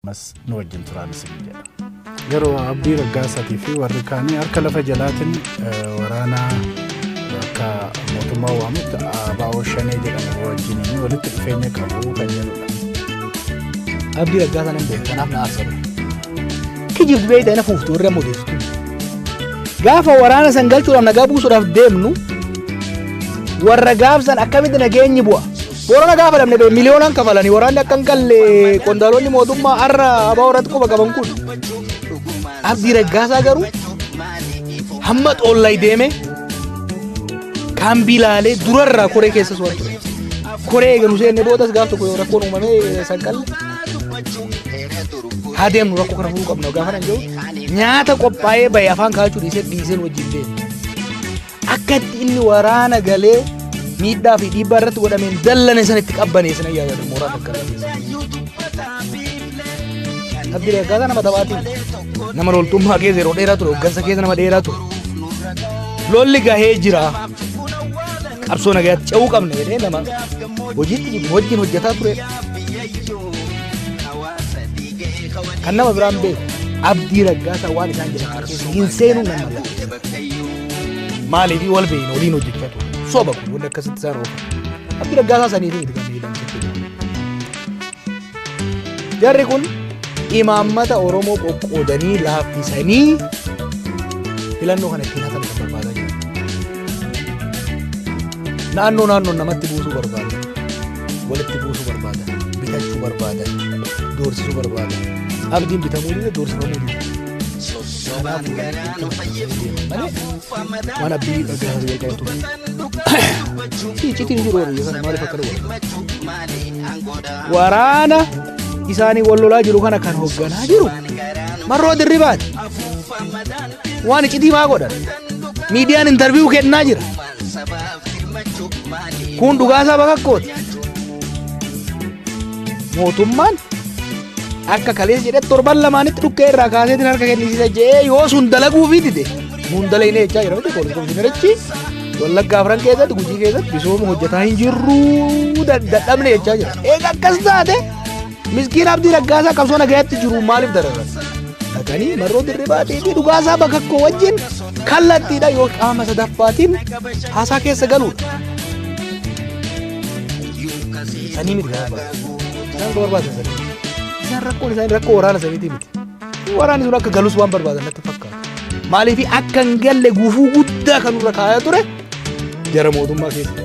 ammas nu wajjin turaan isin jedha. Yeroo Abdii Raggaasaatii fi warri kaanii harka lafa jalaatiin waraana akka mootummaa waamutti abaa'oo shanee jedhamu wajjin walitti dhufeenya qabu kan jedhudha. Abdii Raggaasaan hin beeku kanaaf na aarsa ture. Kijibdu beeyta ina fuuftu warri amma odeessitu. Gaafa waraana san galchuudhaaf nagaa buusuudhaaf deemnu warra gaafsan akkamitti nageenyi bu'a. Boorana gaafa dhabne bee miliyoonaan kafalanii waraanni akka hin galle qondaalonni mootummaa har'a abaa warratti quba qaban kun. Abdii Raggaasaa garuu hamma xoollay deeme kaambii laalee durarraa koree keessas waan ture. Koree eeganu seenne boodas gaaf tokko rakkoon uumamee sanqalle. Haa deemnu rakkoo kana furuu qabna gaafa nan jedhu nyaata qophaa'ee bahe afaan kaa'achuu dhiisee dhiiseen wajjin deemu. Akka itti inni waraana galee miidhaa fi dhiibbaa irratti godhameen dallane san itti qabbanee sana yaadatu mooraa fakkaatu. Abdii akkaataa nama taphaatiin nama loltummaa keessa yeroo dheeraa ture hoggansa keessa nama dheeraa ture. Lolli gahee jira. Qabsoo nagaatti ce'uu qabna jedhee nama hojiitti jiru wajjin hojjetaa ture. Kan nama biraan beeku abdii raggaasaa waan isaan jedhan hin seenuu nama. Maaliif wal beeyna waliin hojjechatu. Soba kun wal akkasitti isaan oofu. Abdi raggaasaa saniif miti kan miidhan jechuudha. Jarri kun imaammata Oromoo qoqqoodanii laaffisanii filannoo kana ittiin hatan kan barbaadaa jiru. Naannoo naannoon namatti buusuu barbaada. Walitti buusuu barbaada. Bitachuu barbaada. Doorsisuu barbaada. Abdiin bitamuu dide doorsifamuu dide. Sossobaan garaa nu fayyifti. Afuufa mataa Waan abdii irra gahaa ta'e qabu. dubbatan dhugaa dubbachuu. Sii iccitiin jiru warri yookaan maaliif akka dhufu? Himmachuu maali aangoodha. Waraana isaanii wal lolaa jiru kana kan hoogganaa jiru marroo dirribaati. Waan iccitii maa godhan? Miidiyaan intarviiyuu kennaa jira. Kun dhugaa isaa bakakkooti. Mootummaan akka kaleessa jedhe torban lamaanitti dhukkee irraa kaaseetiin harka kennisiisa jedhee yoo sun dalaguu fi dide nuun dalaginee jechaa jira miti poolisii komishinarichi wallaggaa afran keessatti gujii keessatti misooma hojjetaa hin jirru dadhabne jechaa jira. Egaa akkas taate Miskiin Abdii Raggaasaa qabsoo nagayaatti jiru maaliif dararan? Dhaganii marroo dirribaa deebii dhugaasaa bakka koo wajjin kallattiidha yoo qaama sadaffaatiin haasaa keessa galuudha. Sanii miti kan barbaadu. Isaan kan barbaadan sanii miti. Isaan rakkoon isaanii rakkoo waraana saniitii miti. Waraanni sun akka galus waan barbaadan natti fakkaata. Maaliif akka hin galle gufuu guddaa kan nurra kaayaa ture Jara mootummaa keessa.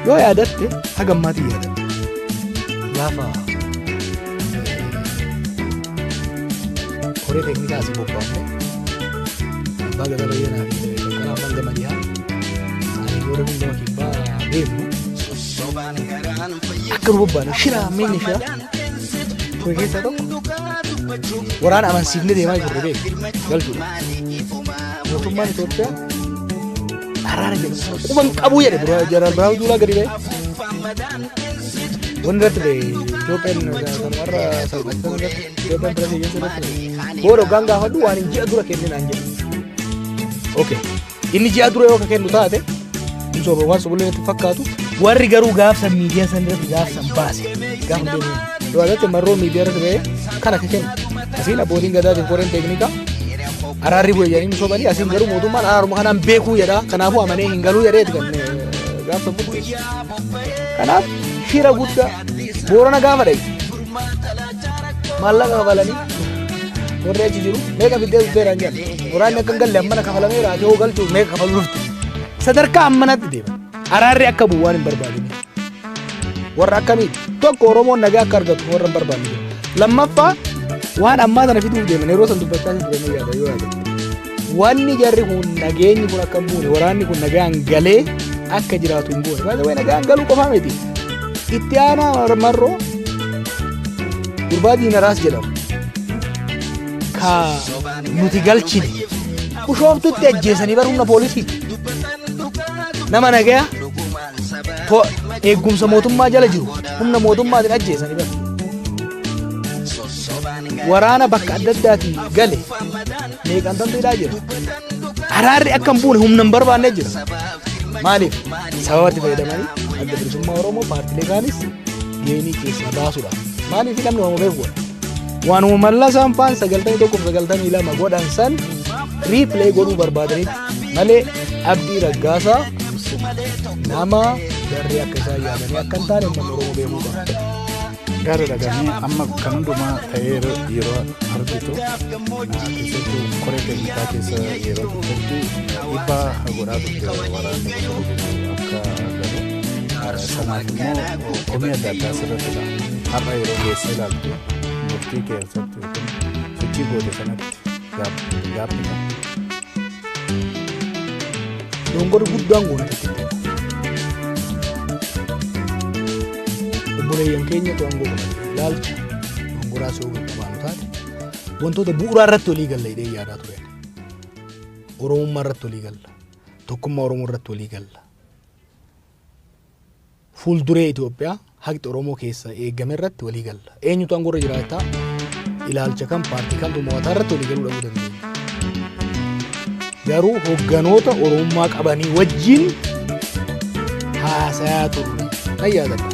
Yoo yaadatte haga ammaatiin yaadatte. Gaafa koree teeknikaa asii bobbaafne abbaa gadaa bayyanaa fi bakkalaa abbaan gama dhiyaa ani yoo rabin gama kibbaa deemnu akka nu bobbaane shiraa miinni shiraa kore keessaa tokko waraana amansiifne deemaa jirre beeku galchuudha. Mootummaan Itoophiyaa araara jedhu sana quban qabuu jedhe dura Jeneraal Birhaanuu Juulaa gadi ba'e. Wanni irratti ba'e Itoophiyaan kan warra salphattan irratti Itoophiyaan bira siyyeessa irratti ba'e. Booda hoggaan gaafadhu waan hin ji'a dura kenninaan jedhu. Okay. Inni ji'a dura yoo ka kennu taate hin soba waan sobulee natti fakkaatu warri garuu gaafsan miidiyaa san irratti gaafsan baase gaafa deemu. Dubarratti marroo miidiyaa irratti ba'e kan akka kennu. Asiin abbootiin gadaatiin koreen teeknikaa Araarri bu'e jedhanii sobanii asiin garuu mootummaan araaruma kanaan beekuu jedha. Kanaafuu amanee hin galuu jedhee kan gaafsa bu'e. Kanaaf shira guddaa boorana gaafa dhayi. Maallaqa kabalanii warri achi jiru meeqa fiddee dhufteeraan jedha. Waraanni akka hin galle ammana kafalameera ati hoo galchuuf meeqa kafaluu dhufte. Sadarkaa ammanatti deema. Araarri akka bu'u waan hin barbaadne. warra akkamii tokko oromoon nagaa akka argatu warra hin barbaanne jiru. lammaffaa waan ammaa sana fiduuf deeman yeroo san dubbachaa hin turanii yaada yoo yaada wanni jarri kun nageenyi kun akka hin buune waraanni kun nagaan galee akka jiraatu hin buune baay'ee nagaan galuu qofaa miti itti aanaa marroo gurbaa diinaraas jedhamu ka nuti galchine ushooftutti ajjeesanii barumna poolisiiti nama nagaya to- eegumsa mootummaa jala jiru humna mootummaatiin ajjeesanii bari. Waraana bakka adda addaatiin gale meeqaan tanteedhaa jira. Araarri akka hin buune humna hin barbaanne jira. Maaliif? Sababatti fayyadamanii adda bilisummaa Oromoo paartilee kaanis geenii keessaa baasuudha. Maaliif namni waan beeku godha? Waanuma mallasaan faan sagaltamii tokkoof sagaltamii lama godhan san riipilee godhuu barbaadanitti malee abdii raggaasaa nama garri akka isaa yaadanii akka hin taane uummanni oromoo beekuu qaba. Gaara dhaganii amma kan hundumaa ta'ee yeroo argitu keessattuu koree teeknikaa keessa yeroo turtetti dhiibbaa godhaa turte waraanni akka galu sanaaf immoo komii adda addaa sirratti dha har'a yeroo geesse ilaaltu murtii keessatti yookiin sochii goote sanatti gaaffiidha. Dongor guddaan goonatti obboleeyyan keenya to'angoo qaban ilaalcha dongoraa si hubatu qabaanu taate wantoota bu'uuraa irratti walii galla hidhee yaadaa ture. Oromummaa irratti walii galla. Tokkummaa Oromoo irratti walii galla. Fuulduree Itoophiyaa haqxi Oromoo keessa eegame irratti walii galla. Eenyutu aangoo irra jiraata? Ilaalcha kam paartii kamtu mo'ataa irratti walii galuu dhabuu dandeenya. Garuu hogganoota Oromummaa qabanii wajjin haasayaa turre. Nan yaadadha.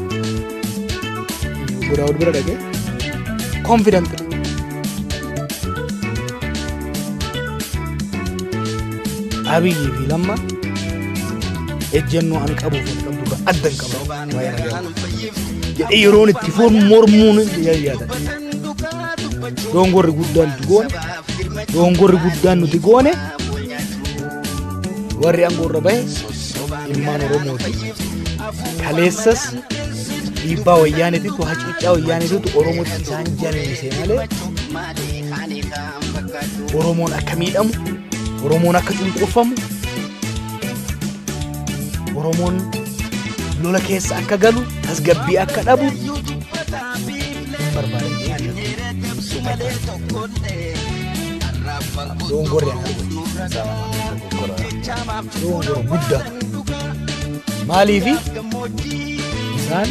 Godaawwan bira dhaqee confidently Abiyyi fi Lamma ejjennoo an qabuu fi qabdu irraa adda hin qabu. Waa'ee nagaa. Jedhee yeroon itti foon mormuun yaada. Doongorri guddaan nuti goone doongorri guddaan nuti goone warri aangoo irra bahe ilmaan Oromooti. Kaleessas dhiibbaa wayyaaniititu hacuuccaa wayyaaniititu Oromootti isaan jallisee malee Oromoon akka miidhamu, Oromoon akka cunqurfamu, Oromoon lola keessa akka galu, tasgabbii akka dhabu Doongorri akka doongora guddaa maaliifi isaan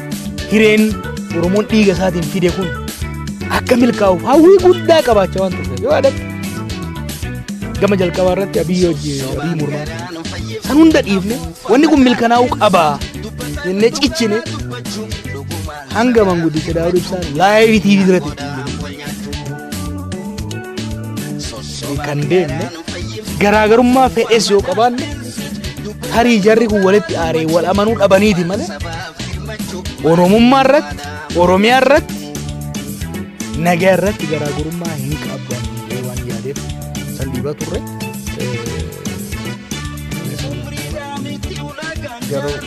Hireen Oromoon dhiiga isaatiin fide kun akka milkaa'uuf hawwii guddaa qabaachaa waan turteef yoo yaadatte gama jalqabaa irratti abiyyi hojii abiyyi mormaa san hunda dhiifne wanni kun milkanaa'uu qabaa jennee cichine hanga manguddicha daawud ibsaa laayivii tiivii irratti kan deemne garaagarummaa fedhes yoo qabaanne tarii jarri kun walitti aaree wal amanuu dhabaniiti malee oromummaa irratti oromiyaa irratti nagaa irratti garaagarummaa hin qaban jedhee waan yaadeef san dhiibaa turre. Eh, garuu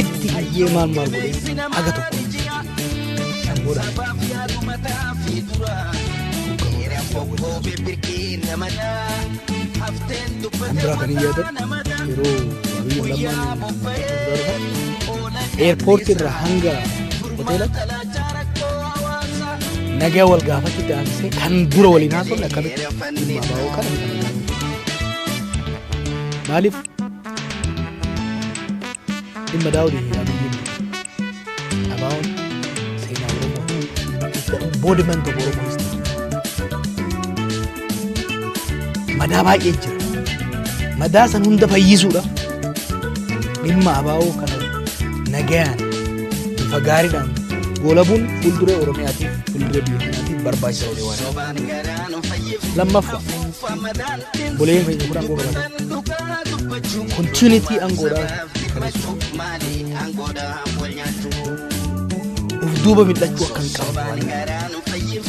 itti hiyyee maal maal godhee haga tokko hin jijjiirre. Kan booda kan biraa kan hin yaadadhu yeroo Abiyyi Lammaan eerpoortii irraa hanga hoteelatti nagaa wal gaafachuu taasisee kan dura waliin haasofne akkamitti dhimma abaa'oo kana hin qabne. Maaliif Dhimma daawwiti hin abiyyiin dhabaa'uun seenaa Oromoo booda man tokko Oromoo history. Madaa baay'ee jira. Madaa san hunda fayyisuudha. Dhimma abaa'oo kana nagayaan bifa gaariidhaan goolabuun fuulduree Oromiyaatiif fuulduree biyya kanaatiif barbaachisa olee waan. Lammaffaa buleen keenya kun aangoo qabata. Continuity angoodhaa mirkaneessuu. Of duuba mil'achuu akka hin qaban waan beekaniif.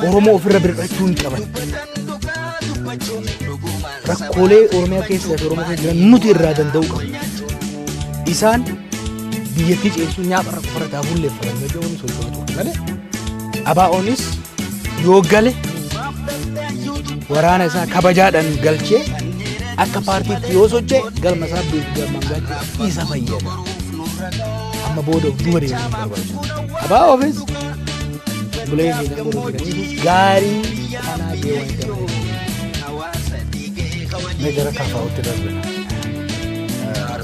Oromoo ofirra bir'achuu hin qaban. Rakkoolee Oromiyaa keessaa fi Oromoo keessa jiran nuti irraa danda'u qabna. Isaan biyyattii ceesisuu nyaapha irra qofarra daabullee fayyadamu jedhuun socho'aa turan malee ABOnis yoo gale waraana isaa kabajaadhaan galchee akka paartiitti yoo sochee galma isaa galmaan gaachuuf isa fayyada. Amma booda of duuba deemuun barbaachisu. ABOfis bulee fi gaarii kanaa deewan ta'uu. Mee gara kaafaa'utti darbina.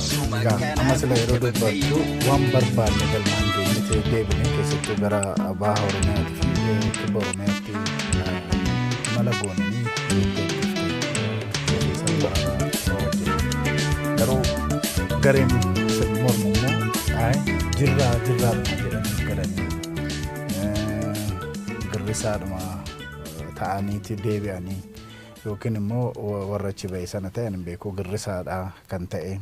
Egaa amma sila yeroo dubbattu waan barbaadne galmaan geenyitee deebine keessattuu gara baha Oromiyaatti fi eh, kibba Oromiyaatti eh, mala goonanii deebitee deebisan bahaa wajjin. Garuu gareen sirni mormu immoo ayi jirraa jirraa dhuma jedhanii galanii eh, girrisaadhuma eh, ta'aniiti deebi'anii yookiin immoo warra achi ba'e sana ta'e ani hin beeku girrisaadha kan ta'e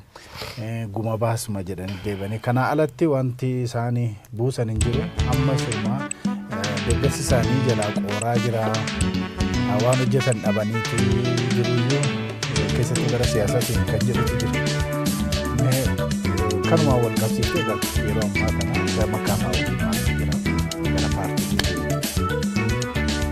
guma baasuma jedhanii deebanii kanaa alatti wanti isaanii buusan hin jiru amma sirmaa deeggarsi isaanii jalaa qooraa jira waan hojjetan dhabaniitu jiruyyuu keessatti gara siyaasaatiin kan jedhutu jiru kanumaa wal qabsiisee egaa yeroo ammaa kana gama kaamaa waliin jira gara paartii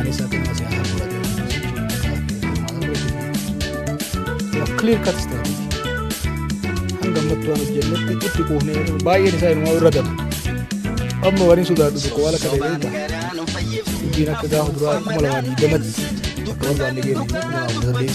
Anis akkuma si haa fudhatu. Clear cut strategy. Hanga ammattu waan hojjennetti itti quufnee baay'een isaa inumaa irra gabu. Amma waliin sodaadhu tokko waan akka ta'e beekta. Hojiin akka gaafa duraa kuma lamaa digdamatti akka barbaanne geessu kuma lamaa saddeet.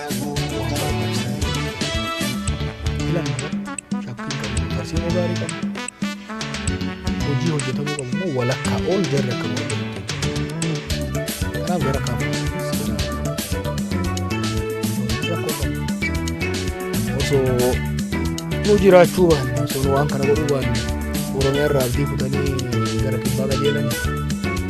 hojii hojjetamuu qabu immoo walakkaa ol jarri akka hojjetu kanaaf gara kaafuu osoo nu jiraachuu baanne osoo nu waan kana godhuu baanne oromiyaa irraa abdii kutanii gara kibbaa qajeelanii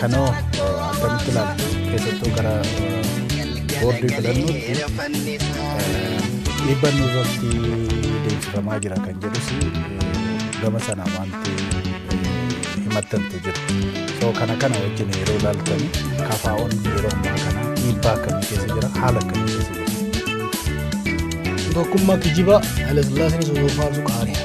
Kanoo akkamitti ilaaltu keessattuu gara boordii filannootti dhiibbaan irratti deemsifamaa jira kan jedhus gama sana wanti himattantu jira. So kana kana wajjin yeroo ilaaltan kafaa'oon yeroo ammaa kana dhiibbaa akkamii keessa jira haala akkamii keessa jira. Tokkummaa kijibaa Hayilasillaaseen isa yoo faarsu qaariidha.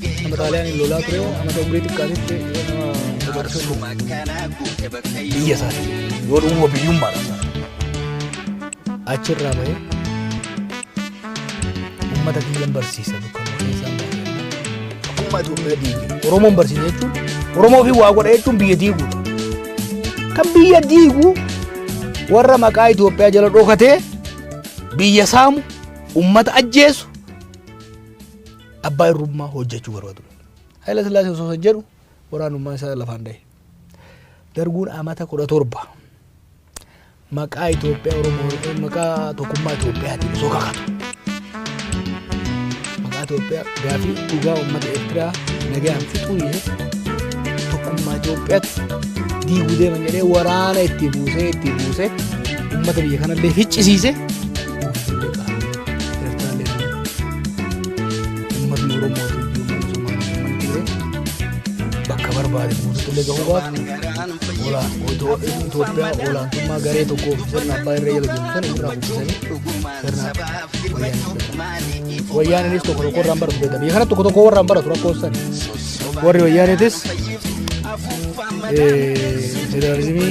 Nama xaaliyaaniin lolaa ture amata umrii xiqqaatitti nama Jaarsuma kana guute bakka biyya isaati yoo dhumuma biyyummaadhaan achirraa bahee uummata biyyan barsiisa dukkan keessaan Akkuma duuba diige. Oromoon barsiisa jechuun Oromoo fi waa godha jechuun biyya diiguudha. Kan biyya diigu warra maqaa Itoophiyaa jala dhokatee biyya saamu uummata ajjeesu Abbaa irrummaa hojjechuu barbaadu. Haayila Sillaasee osoo san jedhu waraanummaa isaa lafaan dhahe. Darguun amata kudha torba maqaa Itoophiyaa Oromoo yookiin maqaa tokkummaa Itoophiyaatiin osoo kakatu. Maqaa Itoophiyaa gaafii dhugaa uummata Eertiraa nagaan fixuu dhiisee tokkummaa Itoophiyaatti diiguu deeman jedhee waraana itti buusee itti buusee uummata biyya kanallee ficcisiise Uummatni Oromoo tuyyuu mana Somaalee mana ture bakka barbaade guutuulee gahuu baatu olaan Itoophiyaa olaantummaa garee tokkoo fi sirna abbaa irra jala jiru sana irraa buqqisanii sirna wayyaaniidha. Wayyaaniinis tokko tokko irraan baratu jedhama. Biyya kana tokko tokko warraan baratu rakkoon sana. Warri wayyaaniitis federaalizimii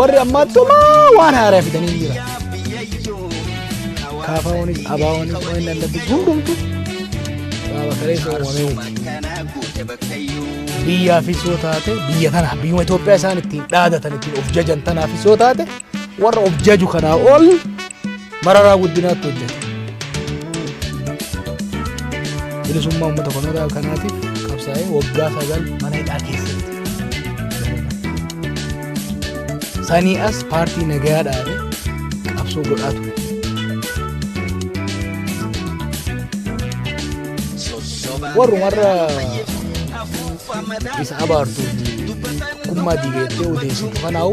warri ammaattumaa waan haaraa fidanii jira kaafaawwanis abaawwanis waan hin dandabbi hundumtu baaba kaleessa uumamee biyyaafis yoo taate biyya tanaaf biyyuma Itoophiyaa isaan ittiin dhaadatan ittiin of jajan tanaafis yoo taate warra of jaju kanaa ol Mararaa guddinaatti hojjete. Bilisummaa uummata kanarraa kanaatiif qabsaa'ee waggaa sagal mana hidhaa keessatti. Sanii as paartii nagayaa dhaabe qabsoo godhaa ture. Warrumarra isa abaartuu fi kummaa diigeettee odeessitu kanaa'u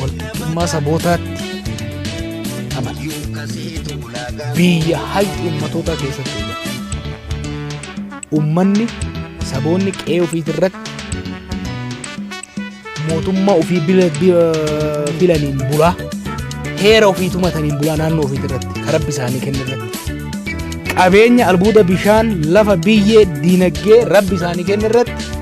Walqixxummaa sabootaatti amana. Biyya hayyu ummatootaa keessatti eegala. Ummanni saboonni qe'ee ofiitii irratti mootummaa ofii bila- bila- filaniin bulaa heera ofii tumataniin bulaa naannoo ofiitii irratti kan rabbi isaanii kenne irratti qabeenya albuuda bishaan lafa biyyee diinagdee rabbi isaanii kenne irratti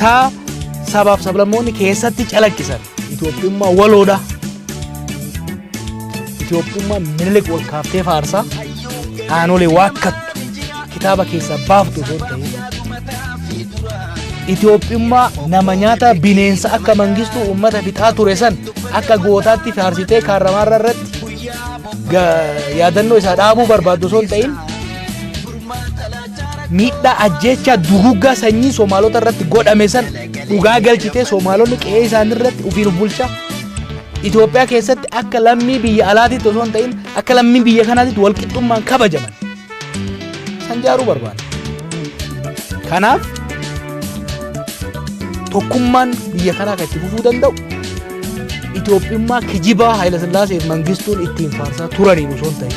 taa sabaaf sablammoonni keessatti calaqqisan Itoophiyummaa waloodha. Itoophiyummaa minilik wal kaaftee faarsaa aanolee waakkattu kitaaba keessaa baaftu osoo hin ta'in Itoophiyummaa nama nyaata bineensa akka mangistuu uummata fixaa ture san akka gootaatti faarsitee kaarramaarra irratti ga- yaadannoo isaa dhaabuu barbaaddu osoo hin ta'in miidhaa ajjeechaa duguggaa sanyii Somaalota irratti godhame san dhugaa galchitee Somaalonni qe'ee isaanii irratti ofiin of bulchaa Itoophiyaa keessatti akka lammii biyya alaatiitti osoo hin ta'in akka lammii biyya kanaatiitti walqixxummaan kabajaman san jaaruu barbaada. Kanaaf tokkummaan biyya kanaa kan itti fufuu danda'u Itoophiyummaa kijibaa Haayila Sillaaseef Mangistuun ittiin faarsaa turaniin osoo hin ta'in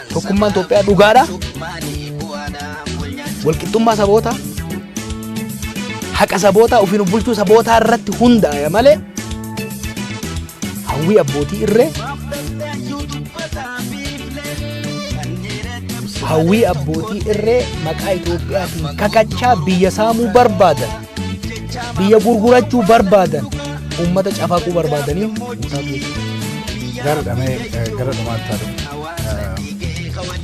Tokkummaan Itoophiyaa dhugaadha. Walqixxummaa sabootaa haqa sabootaa ofiin bulchuu sabootaa irratti hundaa'e malee hawwii abbootii irree hawwii abbootii irree maqaa Itoophiyaatiin kakachaa biyya saamuu barbaadan biyya gurgurachuu barbaadan uummata cafaquu barbaadanii gara dhamee gara dhumaatti haa dhufu.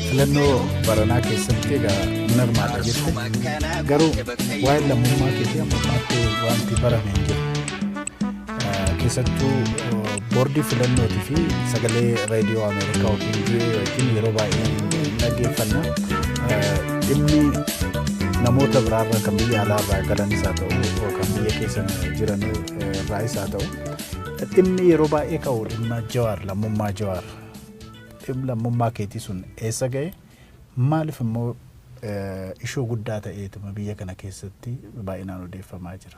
filannoo baranaa keessatti egaa hin hirmaata jette garuu waa'ee lammummaa keetii amma ammaatti wanti barame hin jiru. keessattuu boordii filannootii fi sagalee raadiyoo Ameerikaa yookiin VOA wajjin yeroo baay'ee dhaggeeffanna. Dhimmi namoota biraarra kan biyya alaarraa galanis haa ta'u kan biyya keessa jiran irraayis haa ta'u dhimmi yeroo baay'ee ka'u dhimma jawaar lammummaa jawaar dhimma lammummaa keetii sun eessa ga'e maaliif immoo ishoo guddaa ta'eetuma biyya kana keessatti baay'inaan odeeffamaa jira.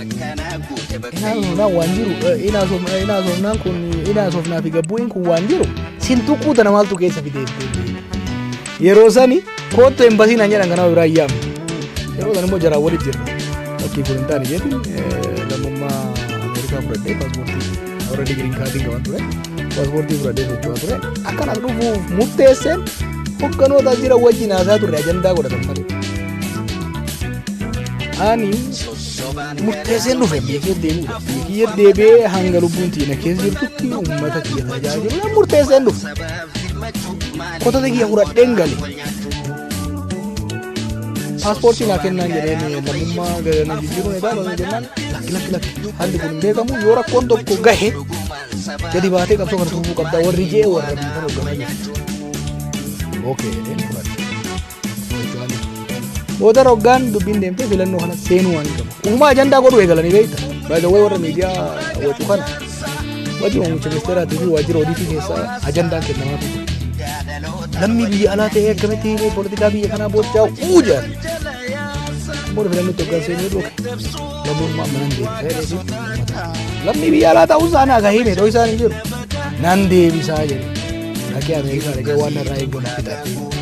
Inaasofnaan waan jiru inaasofnaan kun inaasofnaa fi gabbuun kun waan jiru sin tuquu tana maaltu keessa fidee yeroo sani koottu embasii naan jedhan kanaa biraa iyyaam yeroo san immoo jaraan walitti jirra fakkii kun hin taane jedhin lammummaa Ameerikaa fudhadhee paaspoortii warra digiriin kaardiin qaban ture paaspoortii fudhadhee socho'aa ture akkanas dhufuuf murteesseen hogganoota jira wajjin haasaa turre ajandaa godhatan malee. Ani murteesseen dhufe biyya keessa deemuudha. Biyya kiyya deebi'ee hanga lubbuun tiina keessa jirtutti uummata kiyya tajaajiluudhaan murteesseen dhufe. Kotota kiyya fudhadheen gale. Paaspoortii naa kennaan jedheen lammummaa galanii jijjiiruun edaa lama jennaan lakki lakki lakki haalli kun hin beekamu yoo rakkoon tokko gahe gadi baatee qabsoo kana tuufuu qabdaa warri jee warra biyya kana hogganaa jiru. Okay jedheen fudhadhe. Booda roggaan dubbiin deemtee filannoo kana seenuu waan qabu. Uumaa ajandaa godhuu eegalanii beekta. Baay'ee warra miidiyaa wacuu kana. Wajjin oomisha ministeeraatii fi waajjira odiitii keessaa ajandaan kennamaa ture. Lammii biyya alaa ta'ee akkamitti poolitikaa biyya kanaa boochaa uu jedhan. Booda filannoo tokko kan seenuu dhufe. Lammummaa mana hin deemtee Lammii biyya alaa ta'uu isaa naa gahee meedhoo isaan hin jiru. Nan deebisaa jedhe. Dhaqee Ameerikaa dhaqee waan narraa eeggatu fixate.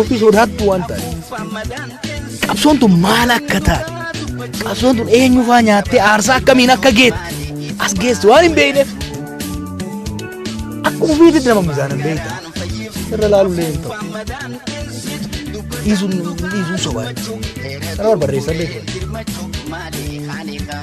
Ofii sodaattu waan ta'eef. Qabsoon tun maal akka taate? Qabsoon tun eenyu faa nyaattee aarsaa akkamiin akka geette? As geesse waan hin beekneef. Akkuma ofiitti dabamni isaan hin beekne. Irra laalullee hin ta'u. Dhiisuun dhiisuun sobaa. Kana barbaaddeessan beekne.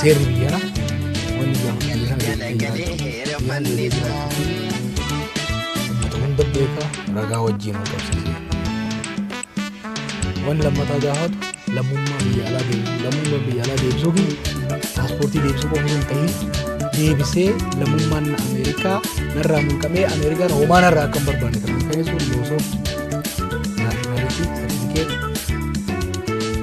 Seerri biyyaraa wanni gaafa biyyaraa galagalee heera manni Uummata hunda beekaa ragaa wajjin wal qabsiisa. Wanni lammataa gaafatu lammummaa biyya alaa deebisuu lammummaa biyya alaa deebisuu fi paaspoortii deebisuu qofa hin ta'in deebisee lammummaan Ameerikaa narraa mulqamee Ameerikaan homaa narraa akka hin barbaanne kan mirkaneessu loosoo naashinaalitii sartifikeetii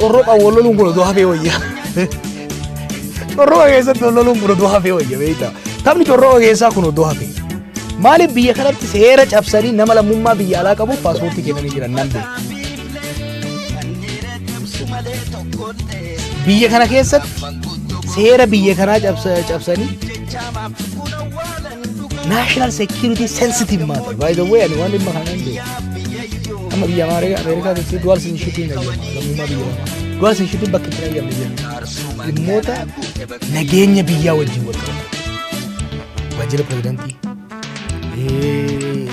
Corroqa wal loluun kun odoo hafee wayya. Corroqa keessatti wal loluun kun odoo hafee wayya beektaa. Taphni corroqa keessaa kun odoo hafee. Maaliif biyya kanatti seera cabsanii nama lammummaa biyya alaa qabuuf paaspoortii kennanii jiran nan beeku. Biyya kana keessatti seera biyya kanaa cabsanii national security sensitive matter by the way ani waan dhimma kana hin beeku amma biyya Ameerikaa Ameerikaa keessatti dual citizenship hin eeyyama lammummaa biyya lamaa dual citizenship bakka itti hin eeyyamne jenna dhimmoota nageenya biyyaa wajjin wal qabatu waajjira pirezidantii eh,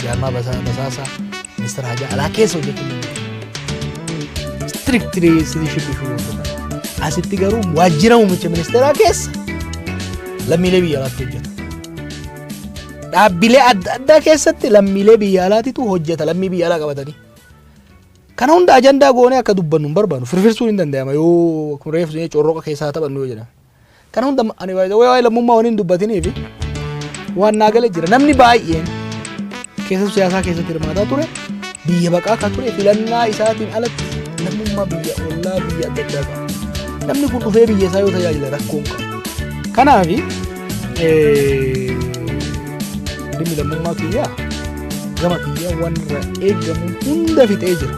jaarmaa basaa- basaasaa ministeera hajaa alaa keessa hojjechuun strictly citizenship issue asitti garuu waajjira muummicha ministeeraa keessa lammiilee biyya alaatti hojjeta. Dhaabbilee adda addaa keessatti lammiilee biyya alaatitu hojjeta lammii biyya alaa qabatanii. Kana hunda ajandaa goonee akka dubbannu hin barbaannu firfirsuun hin danda'ama yoo kun reefu jennee corroqa keessaa taphannu yoo jedhan. Kana hunda ani waa'ee lammummaa waan hin dubbatiniif waan naa gala jira namni baay'een Keessattuu siyaasaa keessatti hirmaataa ture biyya baqaa kan ture filannaa isaatiin alatti lammummaa biyya ollaa biyya adda addaa qaba. Namni kun dhufee biyya isaa yoo tajaajila rakkoon qaba. Kanaaf dhimmi lammummaa kiyyaa gama kiyyaa waan irraa eegamu hunda fixee jira.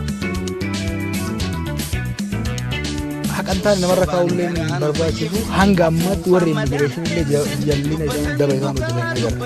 Haqantaan namarra kaa'ullee barbaachisu hanga ammaatti warri immigireeshinillee jallina isaan daba isaan hojjetan agarra.